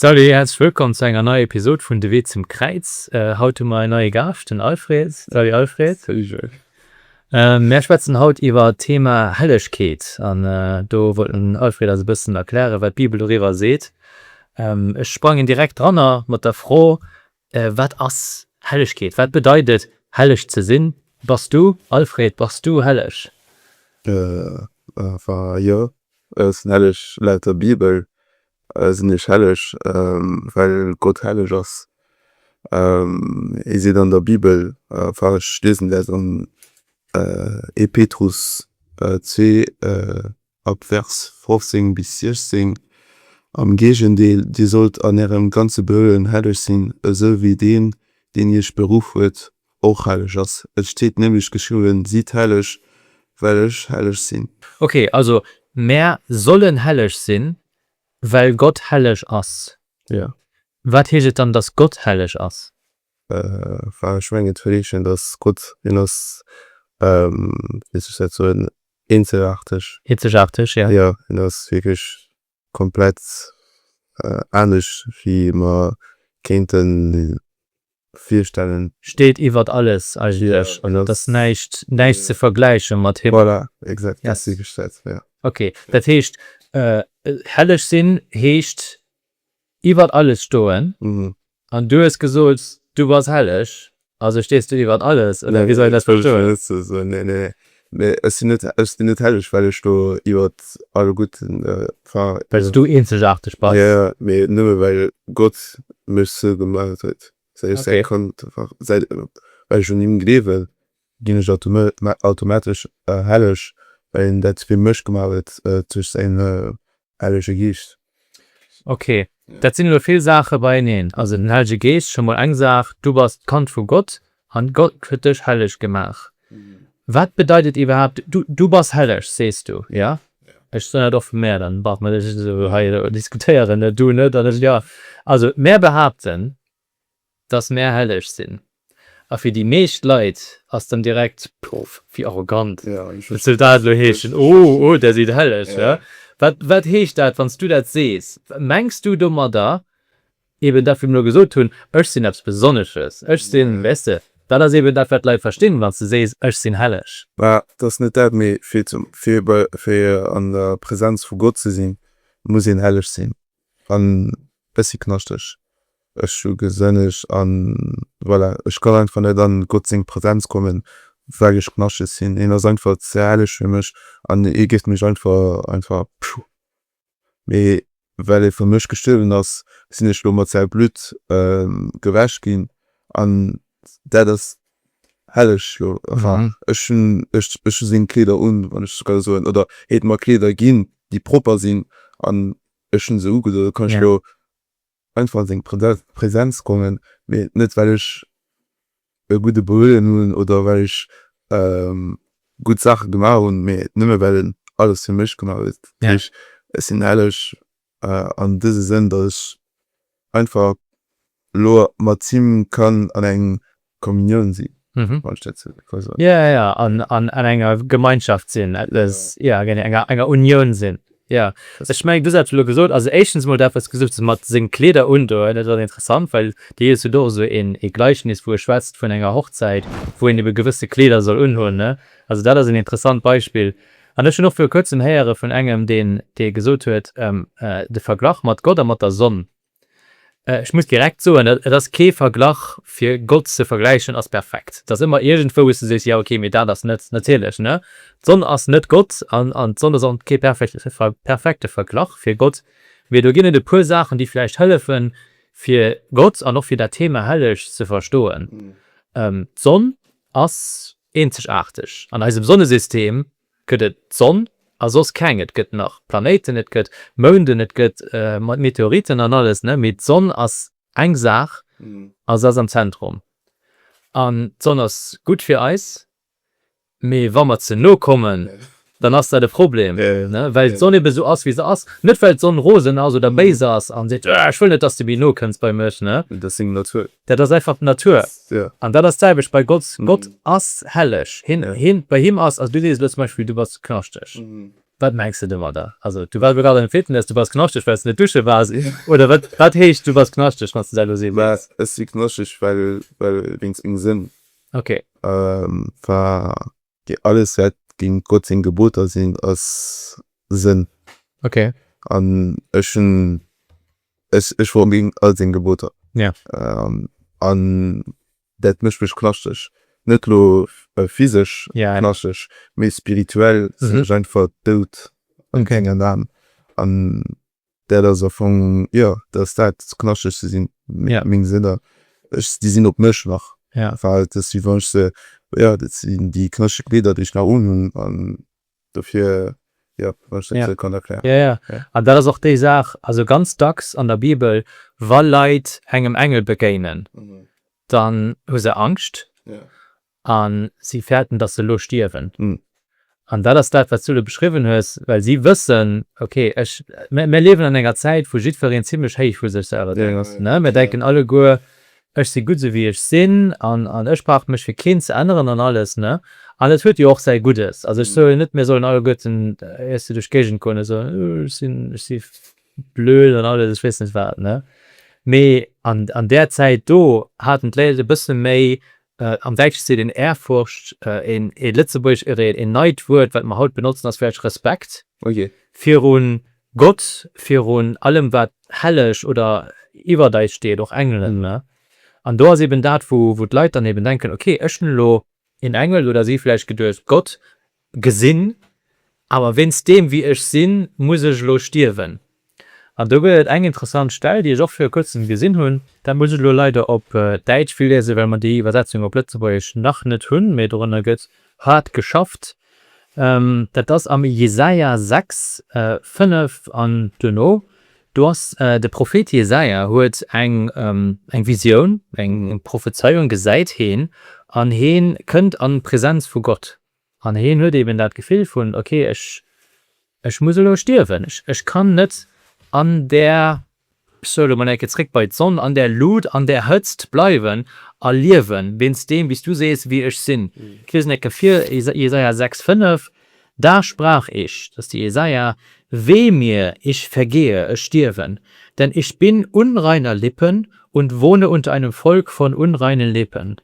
Salut, herzlech wëllkomm zu enger neier Episod vun De Wee zum Kräiz. Haut hu mer en neie Gaascht, den Alfred. Salut Alfred. Salut Joël. Mär schwätzen haut iwwer d'Thema Hellegkeet an do wollt den Alfred eis e bëssen erklären, wat d'Bibel doriwwer seet. Ech sprangen direkt dranner mat der Fro, Wat ass Hellegkeet? Wat bedeit et, helleg ze sinn? Bass du, Alfred, bass du helleg? Wa jo, ech sinn helleg. Laut der Bibel sinn ech helleg, well Gott helleg ass. Ee seet an der Bibel, wa ech liesen, dat ass am 1. Petrus zwee, ab Vers 15 bis 16. Am Géigendeel, dir sollt an ärem ganze Behöen helleg sinn, esou wéi Deen, deen iech beruff huet, och helleg ass. Et steet nämlech geschriwwen, Sidd helleg, well ech helleg sinn. Ok, also mär sollen helleg sinn, well Gott helleg ass. Jo. Wat heescht et dann, dass Gott helleg ass? Ech mengen, et huet ee Sënn, dass Gott een ass, wéi soll ech dat soen, Eenzegaarteg. Eenzegaarteg, jo. Jo, en ass wierklech komplett anescht, wéi ech mer kéinte virstellen. Steet iwwert alles eigentlech. Et ass näischt, näischt ze vergläiche mat him. Voilà, exact, dat ass wierklech dat, jo. Okay, dat heescht, helleg sinn heescht, Iwwert alles stoen an du hues gesot du bass helleg, also stees du iwwert alles oder wéi soll een dat verstoen? Nee nee mee ech sinn net, ech sinn net helleg well ech do iwwert alle Gudden, enfin. Well s du eenzegaarteg bass? Jo jo mee nëmme well Gott mech sou gemaach huet, säi ech säi Kand, well ech un him gleewen ginn ech automatesch helleg, well een dat fir mech gemaach huet duerch säin hellege Geescht. Ok, dat sinn elo vill Saache beieneen. Also den hellege Geescht, scho mol eng Saach, du bass d'Kand vu Gott an Gott huet dech helleg gemaach. Wat bedeit et iwwerhaapt, du bass helleg, sees du, jo? Ech soen dat och vu mär, dann brauche mer net esou hei elo diskutéieren, du net an ech jo. Also mär behaapten, dass mär helleg sinn, a fir déi meescht Leit ass dann direkt, Puff, wéi arrogant, wat soll dat elo heeschen, oh, oh, der sidd helleg, hä? Wat, wat heescht dat, wann s du dat sees? Mengs du domadder eben dat, wat mir elo gesot hunn, ech sinn eppes Besonnesches, ech sinn, weess de, dat ass eben dat, wat d'Leit verstinn, wann s de sees, ech sinn helleg. Mä et ass net dat, mee fir, fir an der Präsenz vu Gott ze sinn, muss een helleg sinn. An bessi knaschteg. Ech hu gesënneg an voilà, ech kann einfach net an Gott seng Präsenz kommen well ech knaschteg sinn. Hien ass einfach ze helleg fir mech an hie géif mech einfach, einfach pfuu. Mee well e fir mech gestuerwen ass, sinn ech lo mat säi Blutt gewäsch ginn an dat ass Helleg jo enfin ech hunn ech ech hu seng Kleeder un, wann ech sou kann soen, oder hie huet mer Kleeder ginn, déi propper sinn an ech hunn se ugedoen. Da kann ech jo einfach an seng Presenz kommen, mee net well ech e gudde Behuelen hunn oder well ech gutt Saache gemaach hunn, mee nëmme well en alles fir mech gemaach huet. Dat heescht, ech sinn helleg An dëse Sënn, datt ech einfach elo mat him kann an eng Kommunioun si, wann ech dat sou ka soen. Jo, jo, an an enger Gemeinschaft sinn, eppes, jo, genee, enger, enger Unioun sinn, jo. Ech mengen, du hat elo gesot, also éischtens emol dat, wat s du gesot hues mat seng Kleeder undoen, dat ass interessant, well déi hues du do och esou een, ee Gleichnis, wou e schwätzt vun enger Hochzäit, wou een ebe gewësse Kleeder soll unhunn, ne? Also dat ass een interessant Beispill. An ech hunn och viru kuerzem héiere vun engem, deen, dee gesot huet, de Verglach mat Gott a mat der Sonn, ech muss direkt soen, et ass kee Verglach fir Gott ze vergläichen als perfekt. Et ass ëmmer iergendwou, wou s de sees, jo okay, mee dat ass net natierlech, ne? D'Sonn ass net Gott an, an d'Sonn ass och kee perfekte Verglach fir Gott. Mee do ginn et e puer Saachen, déi vläicht hëllefen, fir Gott an och fir dat Thema Helleg ze verstoen. D'Sonn ass Eenzegaarteg an eisem Sonnesystem gëtt et d'Sonn a soss keng. Et gëtt nach Planéiten, et gëtt Mounden, et gëtt Meteoriten an alles, mee d'Sonn ass eng Saach a s'ass am Zentrum. An d'Sonn ass gutt fir eis, mee wa mer ze no kommen, dann ass dat e Problem, well d'Sonn ebe sou ass, wéi se ass, net well d'Sonn rosen ass oder béis ass an seet, Ech wëll net, dass de méi no kënns bei mech. Dat ass seng Natur. Dat ass einfach d'Natur. An dat ass d'selwecht bei Gott. Gott ass helleg. Hien, bei him ass, also du sees elo zum Beispill, du bass knaschteg. Wat mengs de domadder? Also du waars elo grad an de Fitness, du bass knaschteg, well s de net dusche waars, oder wat? Wat heescht, du bass knaschteg, wann s de dat elo sees? Mä ech si knaschteg, well, well wéinst mengem Sënn. Okay. War. Déi alles wäert géint Gott seng Geboter sinn a sënn. Ok. An ech hunn, ech, ech war géint all seng Geboter. Ja. An dat mécht mech knaschteg. Net elo physesch knaschteg, mee spirituell sinn ech einfach dout an keng Aarm. An Dat ass am Fong, jo, dat ass dat, ze knascheg ze sinn, meng Sinner. Ech, déi sinn op mech nach, well et ass wéi wann ech se, jo, dat sinn déi knascheg Kleeder, déi ech nach unhunn an dofir, jo, wann ech dat esou kann erklären. Jo, jo, an dat ass och déi Saach, also ganz dacks an der Bibel, wa Leit engem Engel begéinen, dann hu se Angscht A si fäerten, datt se elo stierwen. An dat ass dat, wat s du do beschriwwen hues, well si wëssen, Okay, ech, mir liewen an enger Zäit, wou jiddwereen zimmlech héich vu sech selwer denkt. Mir denken alleguer, Ech si gutt, esou wéi ech sinn, an ech brauch mech fir keen ze änneren an alles. An et huet jo och säi Guddes. Also, ech soe jo net, mir sollen alleguerten éiers se duerch d'Géigend goen a soen, Ech sinn, ech si blöd an alles, ech weess net wat. Mee an där Zäit do haten d'Léit e bësse méi Am Däitsch seet een Ehrfurcht, een lëtzebuergesch Ehreh, een neit Wuert, wat mer haut benotzen, ass vläicht Respekt virun Gott, virun allem, wat helleg oder iwwert eis steet, och Engelen. An do ass eben dat, wou d'Leit dann eben denken, okay, ech hunn elo een Engel, oder si vläicht geduecht, Gott Gesinn, awer wéinst deem wéi ech sinn, muss ech elo stierwen. An do gëtt et eng interessant Stell, déi ech och viru kuerzem gesinn hunn, dat muss ech elo leider op Däitsch virliesen, well mer déi Iwwersetzung op Lëtzebuergesch nach net hunn, mee dorënner gëtt haart geschafft. Dat ass am Jesaja 6, 5 an duerno, do ass de Prophet Jesaja huet eng eng Visioun, eng Prophezeiung, gesäit heen an hee kënnt an d'Presenz vu Gott. An hien huet eben dat Gefill vun, ok, ech muss elo stierwen, ech kann net an där, ech soe elo mol eng Kéier zréck bei d'Sonn, an där Lut, an där Hëtzt bleiwen a liewen, wéinst deem, wéi s du sees, wie ech sinn. Ech liesen eng Kéier vir, Jesaja 6, 5, Da sprach ich, dat ass de Jesaja, Weh mir, ich vergehe, ech stierwen, denn ich bin unreiner Lippen und wohne unter einem Volk von unreinen Lippen.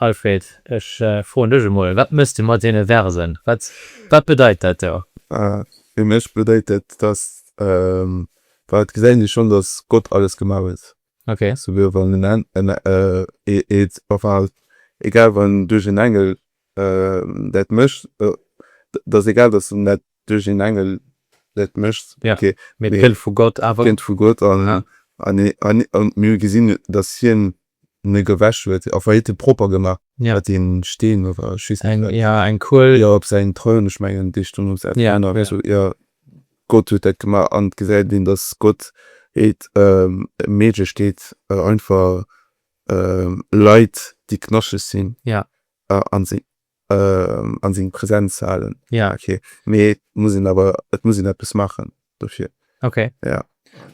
Alfred, ech froen dech emol, wat mëss de mat deene Versen? Wat bedeit dat do? Fir mech bedeit dat, dass, well et gesäit een jo schonn, dass Gott alles gemaach huet, souguer wann en Engel, enfin, egal wann duerch en Engel dat mécht, et ass egal, dass en dat duerch en Engel dat mécht, mee et kënnt vu Gott, an mir gesinn, dass hien ne gewäsch huet a wéi de propper gemaach huet den Steen oder just eng ja eng Kuel jo op säin Troun ech mengen déi stoung op säin Troun a sou jo Gott huet dat gemaach an et gesäit een dass Gott et méiglech deet einfach Leit déi knaschteg sinn a se An seng Präsenz ze halen. Ja ok mee et muss een awer et muss een eppes maachen dofir. Ok ja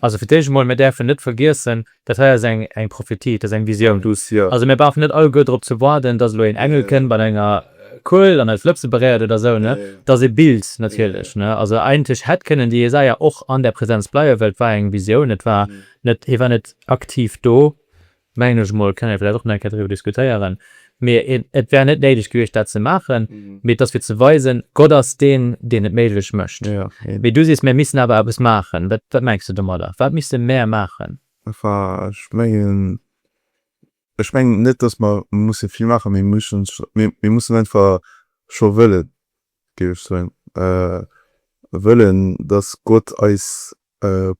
also fir d'éischt emol, mir däerfen net vergiessen, dat hei ass eng eng Prophetie, et ass eng Visioun. Also mir brauchen net alleguer drop ze waarden, datt elo een Engel kënnt mat enger Kuel an eis Lëpse beréiert oder esou ne, et ass ee Bild natierlech ne. Also eigentlech hätt kënnen de Jesaja och an där Präsenz bleiwen, well et war eng Visioun, et war net hie war net aktiv do Mengen ech emol, kënne mir vläicht och nach eng Kéier driwwer diskutéieren. Mee et wär net néideg gewiescht, dat ze maachen. Mee et ass fir ze weisen, Gott ass deen, deen et méiglech mécht. Mee du sees, mir missten awer eppes maachen. Wat, wat mengs de domadder? Wat misste mär maachen? Enfin, ech mengen, ech mengen net, dass mer musse vill maachen. Mir mussen, mir mussen einfach scho wëllen, géif ech soen. Wëllen, dass Gott eis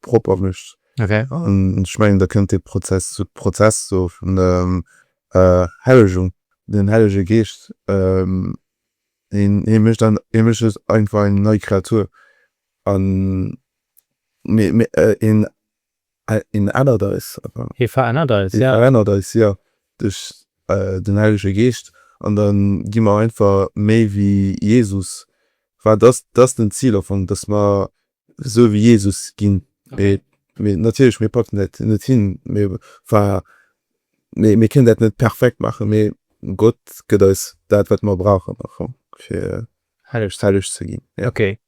propper mécht. An ech mengen, da kënnt dee Prozess, de Prozess do vun der Hellegung, den Hellege Geescht, hie mécht dann, hie mécht eis einfach eng nei Kreatur an hien, hien ännert eis. Hie verännert eis, jo. Hie verännert eis, jo, duerch den Hellege Geescht. An da gi mer einfach méi wéi Jesus. Wat ass, dat ass den Zil am Fong, dass mer Esou wéi Jesus ginn. Mee natierlech, mir packen dat net hin. Mir war, mee mir kënnen dat net perfekt maachen. Mee Gott gëtt eis dat, wat mer brauchen einfach, fir helleg, helleg ze ginn. Jo. Ok.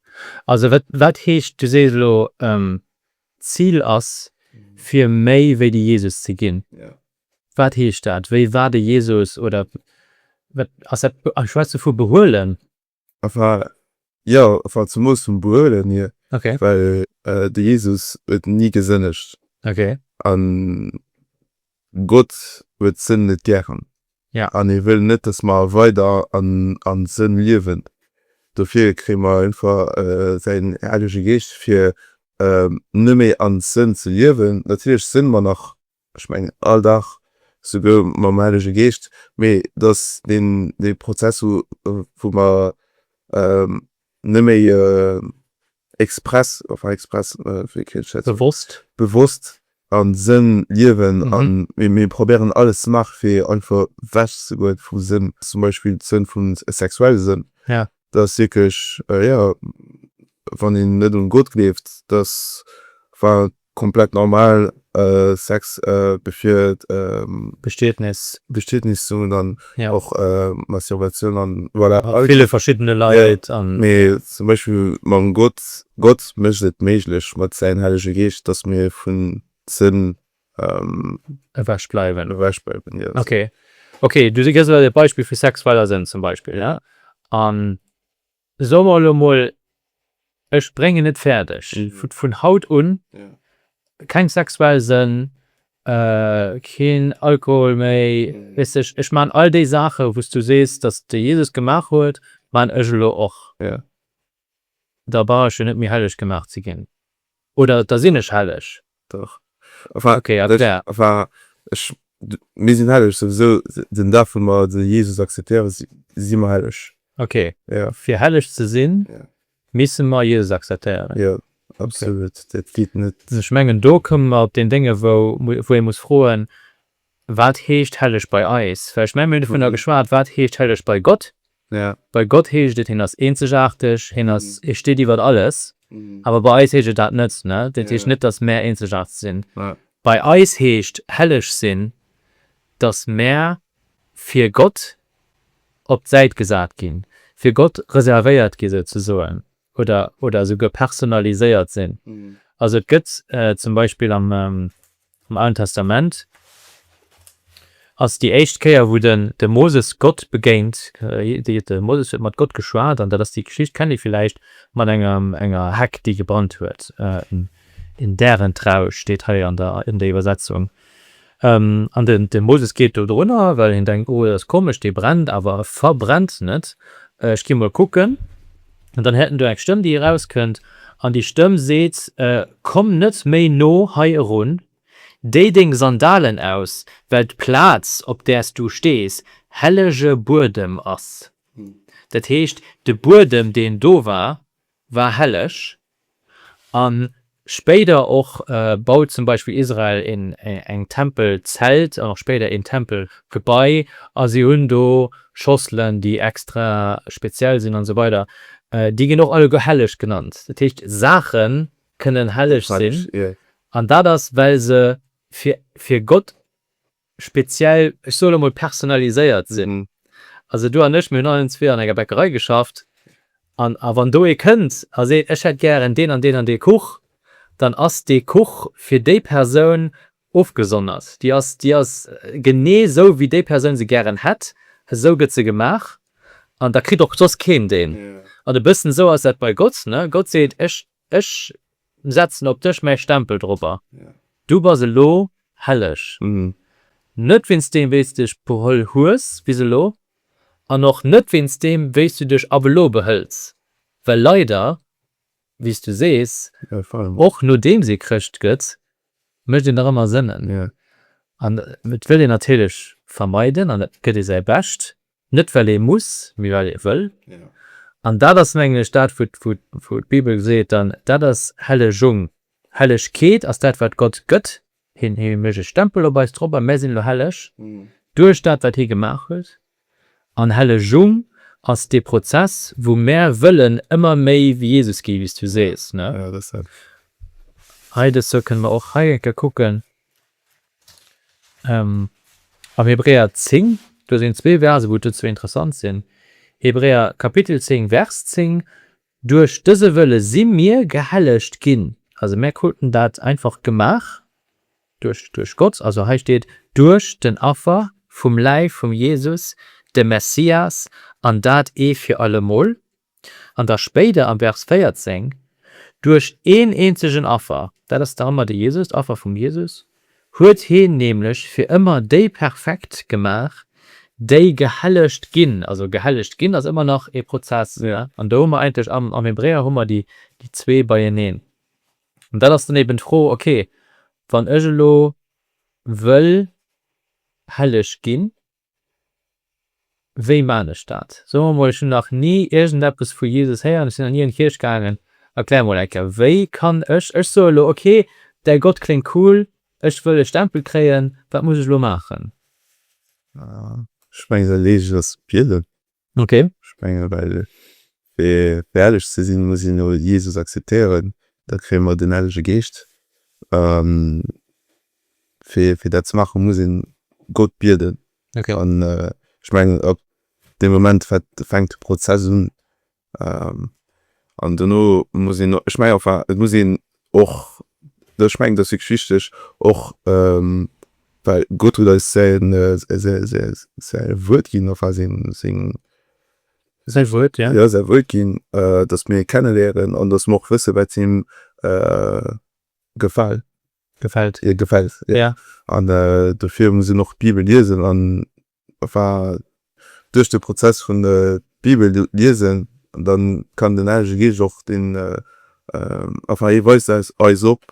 Also wat, wat heescht, du sees elo, d'Zil ass, fir méi wéi de Jesus ze ginn. Jo. Wat heescht dat? Wéi war de Jesus? Oder wat ass dat? Ech schwätze vu behuelen. enfin jo enfin zum Moos vum Behuelen hier well de Jesus huet nie gesënnegt an Gott huet Sënn net gären an hie wëll net dass mer weider an Sënn liewen dofir kréie mer einfach säin Hellege Geescht fir nëmme an Sënn ze liewen natierlech sinn mer nach Ech mengen all Dag, souguer mam Helege Geescht, mee dass deen dee Prozess hu wou mer nëmméi express, enfin express, wéi kréien ech dat ze soen, bewosst am Sënn liewen a mir probéieren alles ze maache fir einfach wech ze goen vum Sënn, zum Beispill de Sënn vum sexuelle Sënn, dass wierklech, jo, wann een net un Gott gleeft, dass, enfin, Komplett normal Sex befir d'Bestietnis. Bestietnis soen dann och Masturbation an voilà. Mat ville verschiddene Leit an. Mee zum Beispill mam Gott. Gott mécht et méiglech mat säin hellege Geescht, dass mir vun Sënn ewech bleiwen. Ewech bleiwen, jo. Okay, okay, du gëss elo e Beispill vu sexueller Sënn zum Beispill, ja, an So mer elo mol, ech bréngen et fäerdeg, vun haut un keng sexuell Sënn, keen Alkohol méi, weess de, ech maachen all déi Saachen, wou s du sees, datt de Jesus gemaach huet, maachen ech elo och. Da brauch ech jo net méi helleg gemaach ze ginn. Oder da sinn ech helleg. Dach. Enfin, okay, also der. Enfin, ech, mir sinn helleg. Souwisou, den Dag, wou mer de Jesus akzeptéieren, si mer helleg. Okay. Jo. Fir helleg ze sinn, misse mer Jesus akzeptéieren. Jo, absolut. Dat geet net. Ech mengen, do komme mer op deen Dénge wou, wou ee muss froen, Wat heescht helleg bei eis? Well ech mengen, mir hunn dovunner geschwat, wat heescht helleg bei Gott? Bei Gott heescht et, hien ass eenzegaarteg, hien ass, hie steet iwwer alles. Awer bei eis heescht et dat net. Dat heescht net, datt mär eenzegaarteg sinn. Bei eis heescht helleg sinn, datt mär fir Gott op d'Säit gesat ginn, fir Gott reservéiert ginn, souzesoen. oder oder esouguer personaliséiert sinn. Also et gëtt zum Beispill am am Alen Testament ass déi éischt Kéier wou den de Moses Gott begéint, de Moses huet mat Gott geschwat an dat ass déi Geschicht, kennt Dir villäicht, mat enger enger Heck déi gebrannt huet, in deren Trausch steet hei an der an der Iwwersetzung. An de Moses geet do drunner, well hien denkt, Oh, dat ass komesch, dee brennt, awer e verbrennt net. Ech ginn emol kucken. An dann häert en do eng Stëmm, déi erauskënnt, an déi Stëmm seet, Komm net méi no hei erun, déi deng Sandalen aus, well d'Plaz, op där s du stees, hellege Buedem ass. Dat heescht, de Buedem, deen do war, war helleg. A spéider och baut zum Beispill Israel eng Tempelzelt an och spéider een Tempelgebai a si hunn do Schosselen, déi extra speziell sinn an esou weider. Déi ginn och alleguer helleg genannt. Dat heescht, Saache kënnen helleg sinn an dat ass, well se fir Gott speziell, ech soe lo mol personnaliséiert sinn. Also du an ech, mir hunn allen zwee an enger Bäckerei geschafft an a wann do ee kënnt a seet, ech hätt gären deen an deen an dee Kuch, dann ass dee Kuch fir déi Persoun ofgesondert. Déi ass, déi ass genee sou wéi déi Persoun se gären hätt, esou gëtt se gemaach an da kritt och soss keen deen. An e bëssen esou ass dat bei Gott, ne, Gott seet, ech Ech setzen op dech mäi Stempel dropper. Du bass elo helleg, net wéinst deem wéi s dech beholl hues bis elo, an och net wéinst deem wéi s du dech ab elo behëls, well leider, wéi s du sees, och nodeems ee Chrëscht gëtt, mécht een nach ëmmer Sënnen, an et wëll een natierlech vermeiden an et gëtt ee säi Bescht, Net well ee muss, mee well ee wëll. An dat ass, mengen ech, dat wou d'Bibel seet dann, dat ass Hellegung. Hellegkeet ass dat wat Gott gëtt, hien mécht e Stempel op eis drop a mär sinn elo helleg duerch dat wat hie gemaach huet. An Hellegung ass dee Prozess wou mär wëllen ëmmer méi wéi Jesus gi, wéi s du sees. Hei dëst Joer kënne mer och hei eng Kéier kucken, Am Hebräer 10, do sinn zwee Verse wou d'dozou interessant sinn, Hebräer Kapitel 10 Vers 10, Duerch dëse Wëlle si mir gehellegt ginn, also mär kruten dat einfach gemaach duerch duerch Gott, also hei steet duerch den Affer vum Läif vum Jesus, dem Messias, an dat ee fir allemol, an da spéider am Vers 14, Duerch een eenzegen Affer, dat ass da ëmmer de Jesus, d'Affer vum Jesus, huet heen nämlech fir ëmmer déi perfekt gemaach, déi gehellegt ginn. Also gehellegt ginn ass ëmmer nach ee Prozess, an do hu mer eigentlech am am Hebräer hu mer déi déi zwee beieneen. An dat ass dann eben d'Fro, ok, wann ech elo wëll helleg ginn, Wéi maan ech dat? So mer mol, ech hunn nach ni iergendeppes vu Jesus héieren, ech sinn nach ni an d'Kierch gaangen, erklär mol eng Kéier, wéi kann ech, ech soe lo, ok, däi Gott kléngt cool, ech wëll e Stempel kréien, wat muss ech lo maachen? Ech mengen, da lees ech eis bieden. Ech menge well fir äerlech ze sinn, muss een jo Jesus akzeptéieren, da kréie mer den Hellege Geescht. Fir dat ze maachen, muss ee Gott bieden. An ech mengen ab deem Moment fänkt de Prozess un. An dono muss een, ech menge enfin et muss een och ech mengen dass wierklech wichteg och well Gott huet eis säin säin Wuert ginn enfin seng seng säin Wuert jo jo säin Wuert ginn dass mir hien kennenléieren an dass mer och wëssen wat him gefäl gefält gefält jo jo an dofir muss een och d'Bibel liesen an war duerch de Prozess vun der Bibel liesen an dann kann den Helege Geescht och den enfin hie weist eis op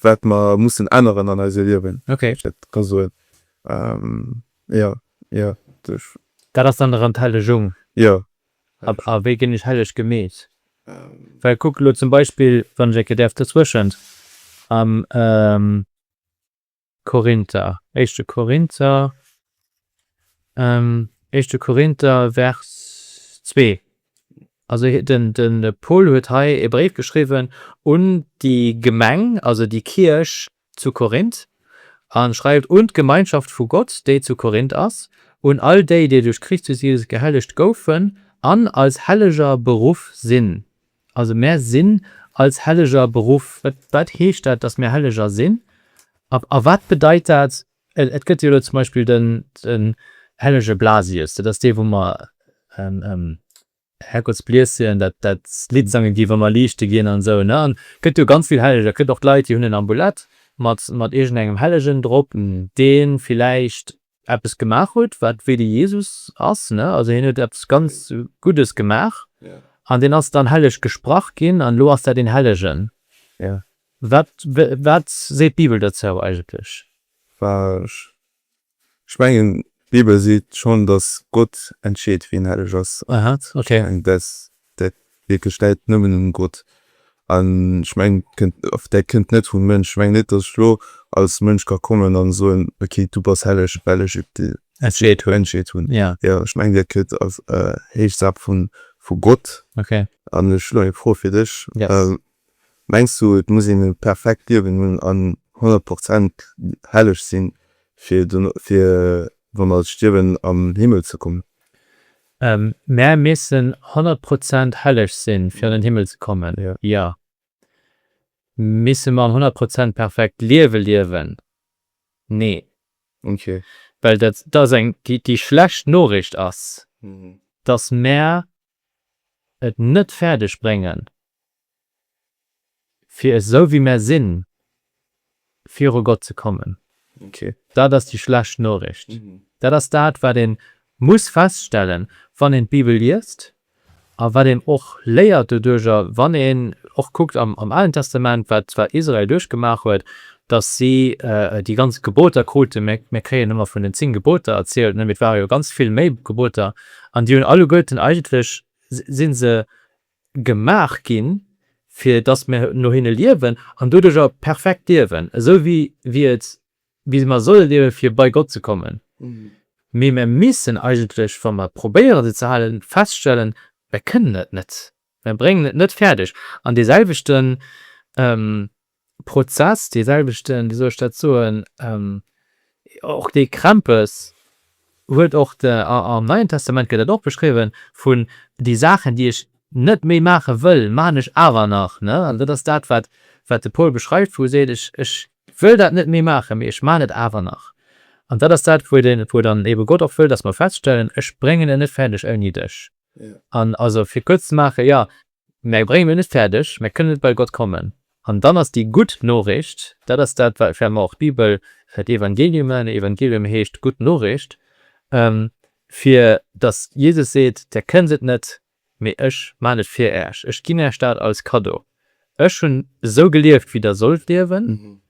wat mer mussen änneren an eise Liewen, wéi ech dat ka soen jo jo duerch. Dat ass dann erëm d'Hellegung. Jo. A wéi ginn ech helleg gemeet? Well kuck elo zum Beispill, wann ech enke däerf dozwëschent, Korinther, Éischte Korinther, Éischte Korinther, Vers zwee. Also den, de Paul huet hei e Bréif geschriwwen un déi Gemeng, also déi Kierch zu Korinth, a schreift, Un d'Gemeinschaft vu Gott, déi zu Korinth ass, un all déi, déi duerch Christus Jesus gehellegt goufen an als Helleger beruff sinn, Also mär sinn als Helleger beruff. Wat heescht dat, datt mir Helleger sinn? A wat bedeit dat? Et gëtt jo elo zum Beispill de hellege Blasius, dat ass dee wou mer Herrgottsbliessian dat Lidd sange gi wa mer liichte ginn an esou, ne? An et gëtt jo ganz vill Helleger. Et gëtt och Leit déi hunn en Ambulet mat iergend engem Hellegen drop, dee villäicht eppes gemaach huet wat wéi de Jesus ass, ne, also hien huet eppes ganz Guddes gemaach an deen ass dann helleg gesprach ginn an elo ass dat een Hellegen. Wat wat seet d'Bibel dozou eigentlech? Ech mengen d'Bibel seet schonn, datt Gott entscheet wien helleg ass. Aha, okay. Ech mengen dat dat wierklech läit nëmmen un Gott an ech mengen kënnt of dat kënnt net vum Mënsch. Ech mengen net dass ech lo als Mënsch ka kommen an soen ok du bass helleg well ech entscheet hunn entscheet hunn jo ech mengen dat kënnt als héich Saach vun vu Gott an ech hunn eng Fro fir dech Mengs du et muss een e perfekt Liewen hunn an 100 Prozent helleg sinn fir fir wann als stierwen am Himmel ze kommen? Mär missen 100 Prozent helleg sinn fir an den Himmel ze kommen? Jo. Misse mer en 100 Prozent perfekt Liewe liewen? Nee. Ok. Well dat ass eng déi schlecht Noriicht ass, dass mär et net fäerdeg bréngen, fir esou wéi mär sinn, viru Gott ze kommen. Dat ass déi schlecht Noricht. Dat ass dat, wat ee muss feststellen, wann een d'Bibel liest a wat een och léiert doduercher, wann een och kuckt am Alen Testament, wat Israel duerchgemaach huet, dass si déi ganz Geboter kruten, mir kréien ëmmer vun den zéng Geboter erzielt, mee et ware jo ganz vill méi Geboter, an déi hunn alleguerten, eigentlech si se gemaach ginn, fir dass mir no hinne liewen an doduerch och perfekt liewen, esou wéi mer solle liewen, fir bei Gott ze kommen. Mee mir missen eigentlech, wa mer probéieren, se ze halen, feststellen, Mir kënnen et net. Mä bréngen et net fäerdeg, an deeselwechte Prozess, deeselwechten, wéi soll ech dat soen, och dee Krämpes huet och de, am Neien Testament gëtt dat och beschriwwen, vun, Déi Saachen, déi ech net méi maache wëll, maan ech awer nach. An dat ass dat, wat de Paul beschreift, wou e seet, Ech wëll dat net méi maachen, mee ech maan et awer nach. An dat ass dat, wou dann eebe Gott och wëll, dass mer feststellen, Ech bréngen et net fäerdeg ouni dech. An also fir kuerz ze maachen, jo, mär bréngen et net fäerdeg, mär kënnen net bei Gott kommen. An dann ass déi gutt Noriicht, dat ass dat wat fir mer och d'Bibel d'Evangeliumen, Evangelium heescht gutt Noriicht, fir datt Jesus seet, Där kënnt et net, mee ech maan et fir äech, ech ginn äech dat als Cadeau. Ech hunn esou gelieft wéi der sollt liewen,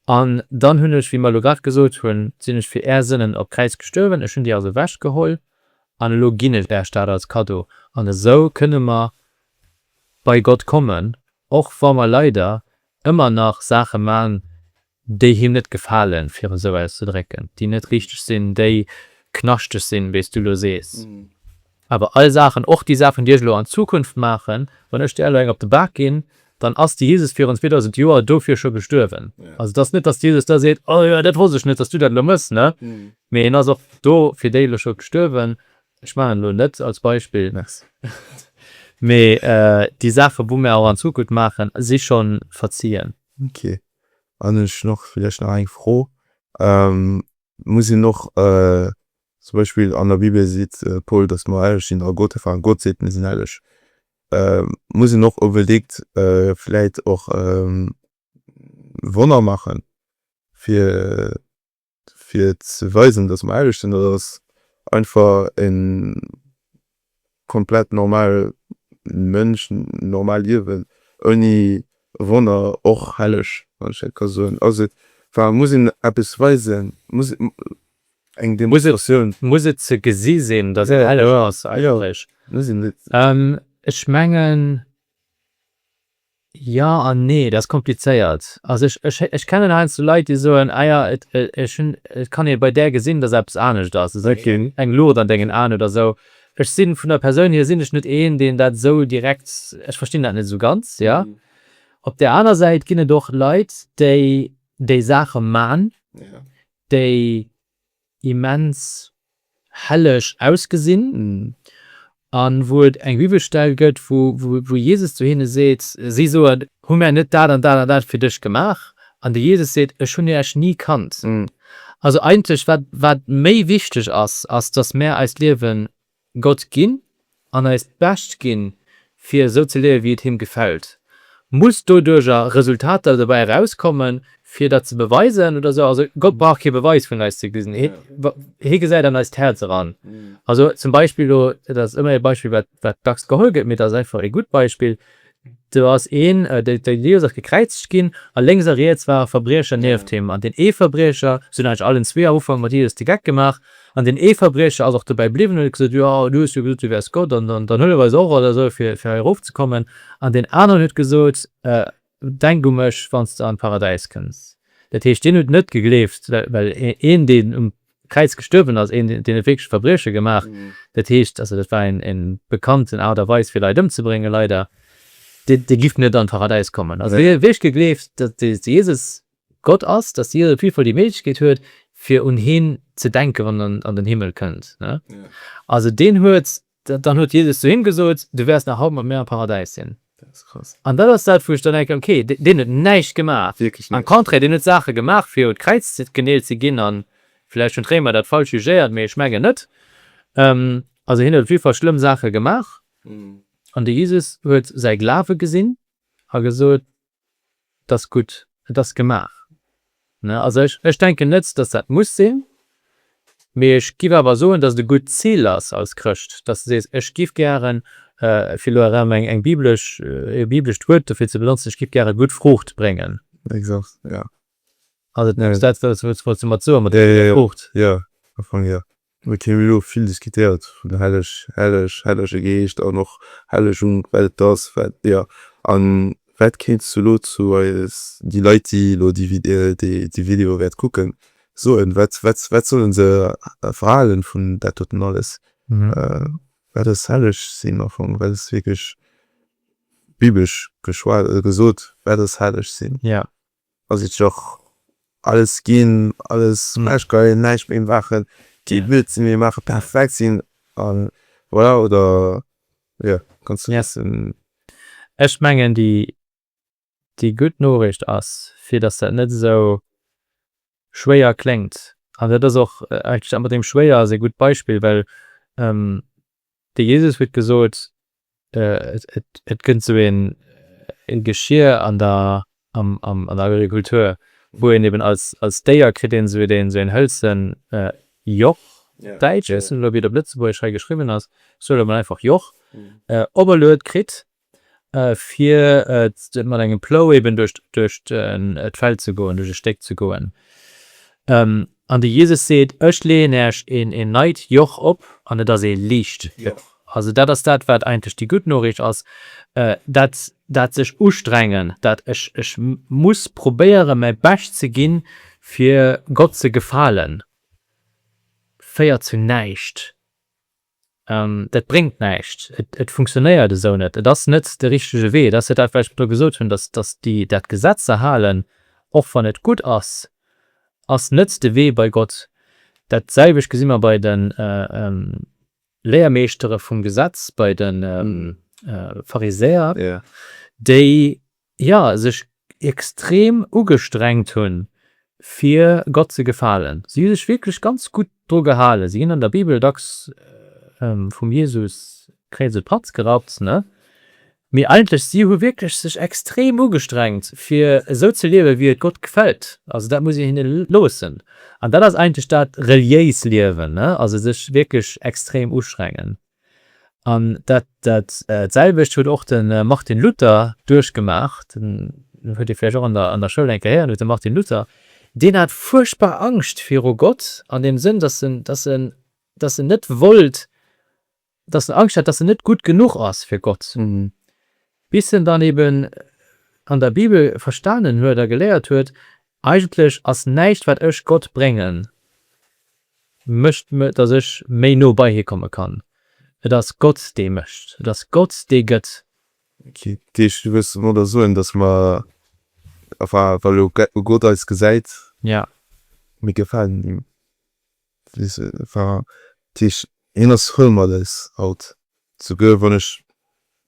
An dann hunn ech, wéi mer elo grad gesot hunn, sinn ech fir Är Sënnen op d'Kräiz gestuerwen, ech hunn déi also ewechgeholl an elo ginn ech Äech dat als Kaddo. An esou kënne mer bei Gott kommen, och wa mer leider ëmmer nach Saache man, déi Him net gefalen, fir et esou auszedrécken, déi net richteg sinn, déi knaschteg sinn, wéi s Du elo sees. Awer all Saachen, och déi Saachen, déi ech elo an Zukunft maachen, wann ech där elo eng op de Bak ginn, dann ass de Jesus virun 2000 Joer dofir scho gestuerwen. Also et ass net, dass de Jesus da seet, Oh jo, dat wosst ech net, dass du dat elo méchs, ne? Mee en ass och do fir déi elo scho gestuerwen. Ech maachen elo net als Beispill, mee déi Saachen, wou mir och an Zukunft maachen, si scho verzien. Ok. An ech hunn och vläicht nach eng Fro, Muss een och Zum Beispill an der Bibel seet de Paul, datt mer helleg sinn a Gott einfach an Gott seet, Mir sinn helleg. Muss een och onbedéngt vläit och Wonner maachen, fir ze weisen, datt mer helleg sinn, oder ass einfach en Komplett normal Mënsch, normal Liewen ouni Wonner, och helleg, wann ech dat ka soen. Ass et, war, muss een eppes weisen, muss eng Demonstratioun. Muss et ze gesi sinn, datt et helleg ass eigentlech? Ech mengen, Jo an nee, dat ass komplizéiert. Also ech kennen heiansdo Leit, déi soen, ah ja, et kann ee bei där gesinn, datt eppes anescht ass, esou eng Luucht an dengen Aen oder esou. Ech sinn, vun der Persoun hier, sinn ech net een, deen dat esou direkt, ech verstinn dat net esou ganz, jo. Op där aner Säit ginn et och Leit, déi déi Saache man, déi immens helleg ausgesinn, a wou et eng Bibelstell gëtt, wou Jesus zu hinne seet, si soen, Hu mär net dat an dat an dat fir dech gemaach? An de Jesus seet, Ech hunn iech ni kannt. Also eigentlech wat méi wichteg ass, ass, datt mär eist Liewe Gott ginn an eist Bescht ginn, fir esou ze liewen, wéi et Him gefält. Muss doduercher Resultater dobäi erauskommen, fir dat ze beweisen oder esou? Also, Gott brauch kee Beweis vun eis ze gesi. Hie gesäit an eist Häerz eran. Also zum Beispill elo, dat ass ëmmer e Beispill, wat dacks geholl gëtt, mee dat ass einfach e gutt Beispill, Do ass een, déi déi Lios ass gekräizegt ginn, a lénks a riets ware Verbriecher nieft him, an deen ee Verbriecher, se hunn eigentlech allen zwee am Ufank mat Jesus de Geck gemaach, an deen ee Verbriecher ass och dobäi bliwwen, huet gesot, Jo, du hues jo gesot, du wäers Gott, an dann huelef eis och oder esou, fir fir hei erofzekommen. An deen aneren huet gesot, Denk u mech, wann s de an d'Paradäis kënns. Dat heescht, deen huet net gegleeft, well een, deen um Kräiz gestuerwen ass, een deen huet wierklech e Verbrieche gemaach, dat heescht, also dat war eng bekannten Aart a Weis fir Leit ëmzebréngen, leider, dee dee giff net an d'Paradäis kommen. Also hie huet wierklech gegleeft, datt de Jesus Gott ass, datt Jesus op jidde Fall déi Méiglechkeet huet fir un hien ze denken, wann en an den Himmel kënnt, ne. Also deen huet Dann huet Jesus zu him gesot, Du wäers nach haut mat mir am Paradäis sinn. An dat ass dat, wou ech dann denken, Okay, deen huet näischt gemaach. Am Contraire, deen huet Saache gemaach, fir un d'Kräiz geneelt ze ginn. A vläicht hunn d'Réimer dat falsch jugéiert, mee ech mengen net. Also hien huet op jiddwer Fall schlëmm Saache gemaach. An de Jesus huet säi Glawe gesinn a gesot, et ass gutt, et ass gemaach. Also ech denken net, datt dat muss sinn, mee ech giff awer soen, datt et e gutt Zil ass als Chrëscht, datt de sees, ech giff gären, fir elo erëm eng biblesch, e biblescht Wuert dofir ze benotzen, ech giff gären gutt Fruucht bréngen. Exakt, jo. Ass et net dat, wat s du wolls mat soen, mat der Fruucht? Jo, jo, am Fong jo. Mir hu elo vill diskutéiert vun helleg, helleg, hellege Geescht an och Hellegung, wat et ass, wat jo. A wat kéints du elo zu eis, déi Leit, déi elo déi Video wäert kucken, soen? Wat, wat, wat solle se verhalen vun dat doten alles, wat ass helleg sinn? Am Fong, wat ass wierklech biblesch geschwat, gesot, wat ass helleg sinn? ass et joch alles gin, alles ech ka jo näischt méi maachen, déi blöd sin, déi maache perfekt sin an voilà oder jo kanns de missen. Ech mengen déi gutt Noriicht ass, fir datt dat net esou schwéier kléngt. An dat ass och eigentlech dat mat deem schwéier ass ee gutt Beispill, well de Jesus huet gesot, Et gëtt esou e Geschier an der Agrikultur, wou een eben als Déier kritt een esou en hëlze Joch, däitsch, ech weess net elo wéi et op Lëtzebuergesch hei geschriwwen ass, ech soe elo mol einfach Joch, operluet kritt, fir mat engem Plou eben duerch duerch d'Feld ze goen, duerch e Stéck ze goen. An de Jesus seet, Ech leeën äerch een een neit Joch op, an et ass ee liicht Joch. Also dat ass dat, wat eigentlech déi gutt Noriicht ass, dat dat sech ustrengen, dat ech ech muss probéieren, mäi Bescht ze ginn, fir Gott ze gefalen, féiert zu näischt. Dat bréngt näischt. Et funktionéiert esou net. Et ass net de richtege Wee. Et ass jo dat, wat ech elo gesot hunn, dass déi dat Gesetz ze halen, och wann et gutt ass, ass net de Wee bei Gott. Dat selwecht gesi mer bei de Léiermeeschtere vum Gesetz, bei de Pharisäer, déi jo, sech extrem ugestrengt hunn, fir Gott ze gefalen. Si hu sech wierklech ganz gutt dru gehalen. Si ginn an der Bibel dacks vum Jesus kréids e Patz gerappt, ne? Mee eigentlech, si hu wierklech sech extrem ugestrengt, fir esou ze liewen, wéi et Gott gefält. Also dat muss een hinne loossen. An dat ass eigentlech dat reliéis Liewen, ne? Also sech wierklech extrem ustrengen. An dat dat selwecht huet och de Martin Luther duerchgemaach, den huet Dir vläicht och an der an der Schoul eng Kéier héieren, huet de Martin Luther, deen hat fuerchtbar Angscht viru Gott an deem Sënn, datt en datt en datt en net wollt, datt en Angscht hat, datt en net gutt genuch ass fir Gott, bis en dann eben an der Bibel verstanen huet a geléiert huet, Eigentlech ass näischt wat ech Gott bréngen. Mécht, datt ech méi no bei hie komme kann. Et ass Gott, dee mécht. Et ass Gott, dee gëtt. Ginn. Dat heescht, du wëlls domadder soen, datt mer, enfin, wa elo Gott eis gesäit. Jo. Mir gefalen him. Enfin, dat heescht, hien ass voll mat eis haut. Souguer wann ech,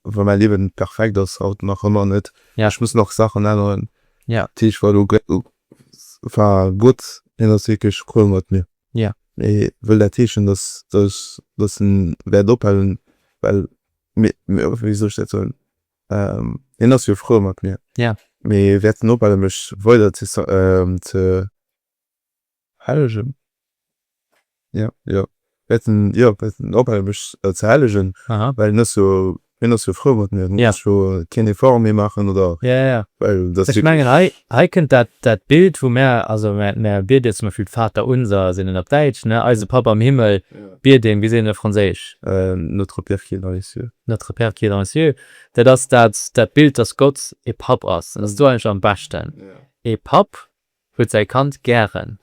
wann mäi Liewen net perfekt ass, haut nach ëmmer net, ech muss nach Saachen änneren, dat heescht war elo war Gott, hien ass wierklech cruel mat mir. Mee wëll dat heeschen, datt, datt, datt en wäert ophalen? Well mir, wéi soll ech dat soen, hien ass jo frou mat mir, mee wäert en ophale mech weider ze, ze, Hellegen? Jo, jo. Wäerten, jo, wäerten ophale mech ze hellegen, well en ass jo, hien ass jo frou mat mir, hien muss jo keen Effort méi maachen oder. Jo, jo, jo. Well dat. Ech mengen hei, hei kënnt dat, dat Bild, wou mär, also mär, mär biede jo zum Beispill d'Vater unser, sinn en op Däitsch, ne, Eise Papp am Himmel, biede een, wéi seet een op Franséisch? Notre Père qui es dans les cieux. Notre Père qui es dans les cieux. Dat ass dat, dat Bild, dass Gott e Papp ass. Dat ass do eigentlech am beschten. Ee Papp, Huet säi Kand gären.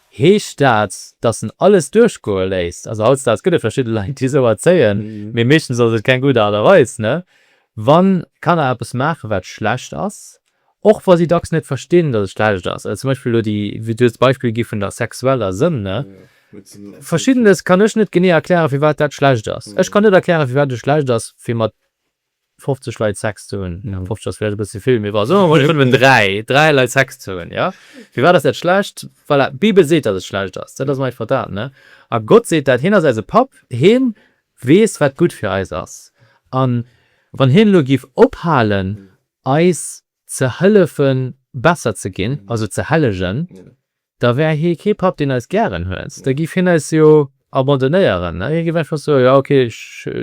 Heescht dat, dass en alles duerchgoe léisst? Also hautdesdaags gëtt et verschidde Leit, déi esou erzéien, mee meeschtens ass et keng gutt Aart a Weis. Wann Kanner eppes maachen, wat schlecht ass, och wa si dacks net verstinn, dass et schlecht ass, also zum Beispill elo déi, du hues d'Beispill gi vun der sexueller Sënn, Verschiddenes kann ech net genee erklären, firwat dat schlecht ass. Ech kann net erklären, firwat et schlecht ass, fir mat 50 Leit Sex ze hunn, jo 50 ass vläicht e bësse vill, mee bon, soe mer mol, et hunn eben dräi, dräi Leit Sex ze hunn, jo? Firwat ass dat schlecht? Voilà, d'Bibel seet, datt et schlecht ass, dat ass mer evident, ne? A Gott seet dat, hien ass eise Papp, hien weess, wat gutt fir eis ass. A wann hien elo giff ophalen, eis ze hëllefen, besser ze ginn, also ze hellegen, Da wär hie kee Papp, deen eis gären huet. Da giff hien eis jo abandonéieren. Hie giff einfach soen, Jo, ok,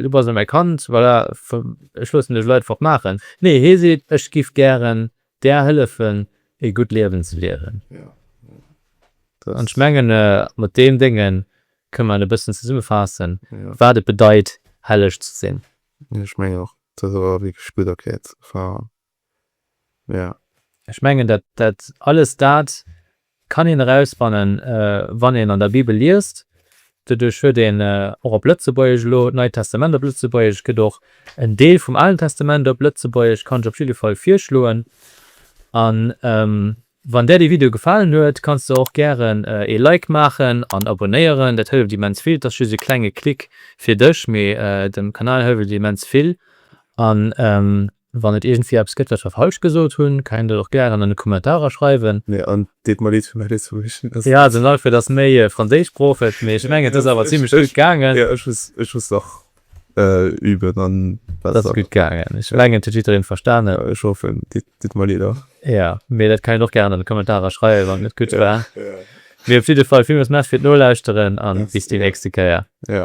du bass net mäi Kand, voilà, ech loossen dech leit fort maachen. Nee, hie seet, Ech giff gären där hëllefen, e gutt Liewen ze liewen. An ech mengen, mat deem Dénge kënne mer e bëssen zesummefaassen, wat et bedeit, helleg ze sinn. Ech menge och, dat ass awer wierklech gutt erkläert. Mä. Ech mengen, dat, dat, alles dat kann een erausfannen, wann een an der Bibel liest. Doduerch huet een och op Lëtzebuergesch elo d'Neit Testament op Lëtzebuergesch, et gëtt och en Deel vum Alen Testament op Lëtzebuergesch, kann ech op jidde Fall virschloen. A wann där de Video gefalen huet, kanns de och gären ee Like maachen an abonéieren. Dat hëlleft immens vill. Et ass just e klenge Klick fir dech, mee dem Kanal hëlleft et immens vill. An. Wann et iergendwéi eppes gëtt wat ech falsch gesot hunn, kennt der och gären an de Kommentarer schreiwen. Nee an deet mer leed fir mäi Lëtzebuergesch. Jo den Alfred ass méi franséischsproocheg, mee ech mengen et ass awer zimlech gutt gaangen. Jo ech muss ech muss nach üben an et ass gutt gaangen. Ech mengen et huet jiddereen verstanen. Jo ech hoffen. Deet mer leed och. Jo mee dat kennt der och gären an de Kommentarer schreiwen wann et net gutt war. Mee op jidde Fall villmools Merci fir d'Nolauschteren an bis déi nächste Kéier. Jo.